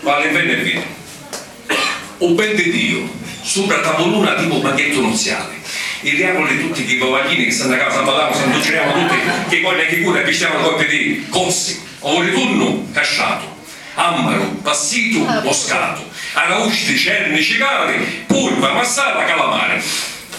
Vali beni e viri. U ben di Diu, supra a tavuluna tipu banchettu nuziali. I riavuli tutti chi vovaghini chi s'annacau s'ammallau s'anducirau tutti chi coli e chi curi appistiau un coppi di, cossi, o u ritunnu, casciatu. Ammaru, passitu, moscatu. Arausti, cerni, cicali, purva, massara, calamari.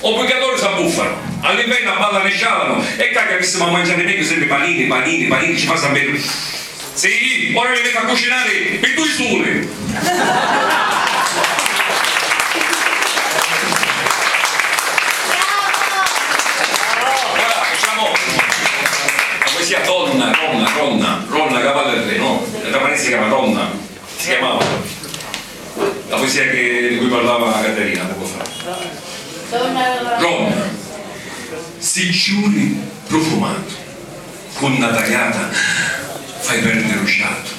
O purgatoriu s'abbuffanu. A l'invernu abballanu e scialanu. E ccà chi avissemu a mangiari megghiu sempri panini, panini, panini, ci fa San Petru. Si, ora li mettu a cucinari pi dui suli! La poesia che, di cui parlava Caterina poco fa. Rom. Sicciuri prufumatu, cu nna taliata fai perdiri u ciatu,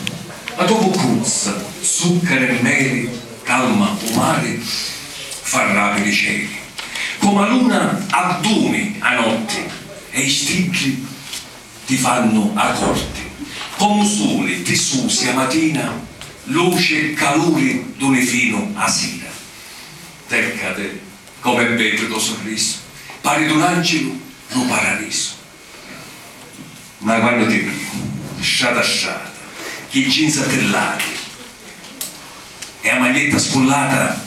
la to vuccuzza, zuccaru e meli, calma u mari, fa rapiri i celi. Comu a luna addumi a notti e i stiddi. ti fannu 'a corti. Comu suli ti susi 'a matina, luci e caluri duni finu 'a sira. Tèccati, com'è beddu to surrisu, pari d'un àncilu dû paradisu. Ma quannu ti vidu, strata strata, chi jinza tillati. E a maglietta scullata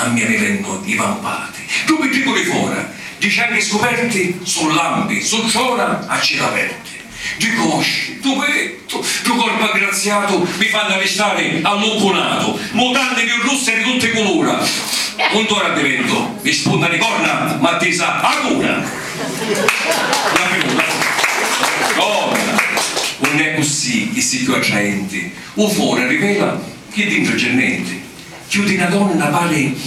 a mia mi vennu i vampati. Ddu piddiccu di fora, ddi cianghi scuperti, su lampi, su trona a cila aperti. Ddi cosci, ddu pettu, ddu corpu aggraziatu mi fannu arristari allucunatu. Mutanni chiù russe di tutti i culura. Untu ora addiventu, mi spunta di corna ma tisa a cuna. La piuma, la piuma. Donna, unn'è accussì, chissi chiù attraenti, U fori rivela chi dintra c'è nenti, cchiù di na donna pari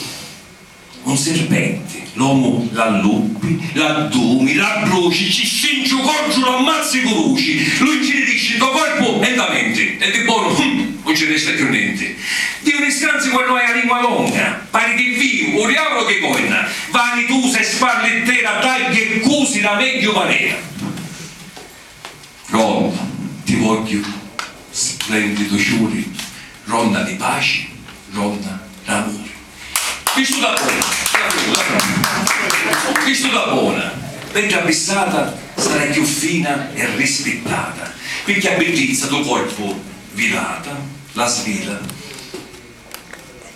un sirpenti, l'omu l'alluppi, l'addumi, l'abbruci, ci strinci u coddu, l'ammazzi cu vuci, lu incinirisci nto corpu e nta menti, e di bonu, hum, un ci resta cchiù nenti. Diu ni scanzi quannu hai a lingua longa, pari chi viu u diavulu chi coinna, vanitusa e sparlittera, tagghi e cusi la megghiu manera. Ronda, ti vogghiu splendidu ciuri, ronda di paci, ronda d'amuri. Cristu da bona, Cristu da bona, mentri a bissata sarai chiù fina e rispittata, pirchì a biddizza du corpu vilata la svila,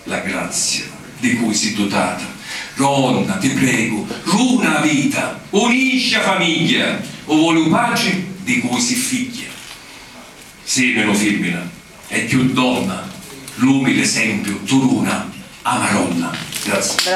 La grazia di cui si dutata. Ronna, ti pregu, runa a vita, unisci a famigghia, u voli u patri di cui si figghia. Si menu fimmina e cchiù donna, l'umili esempiu tu runa a Maronna. Grazie.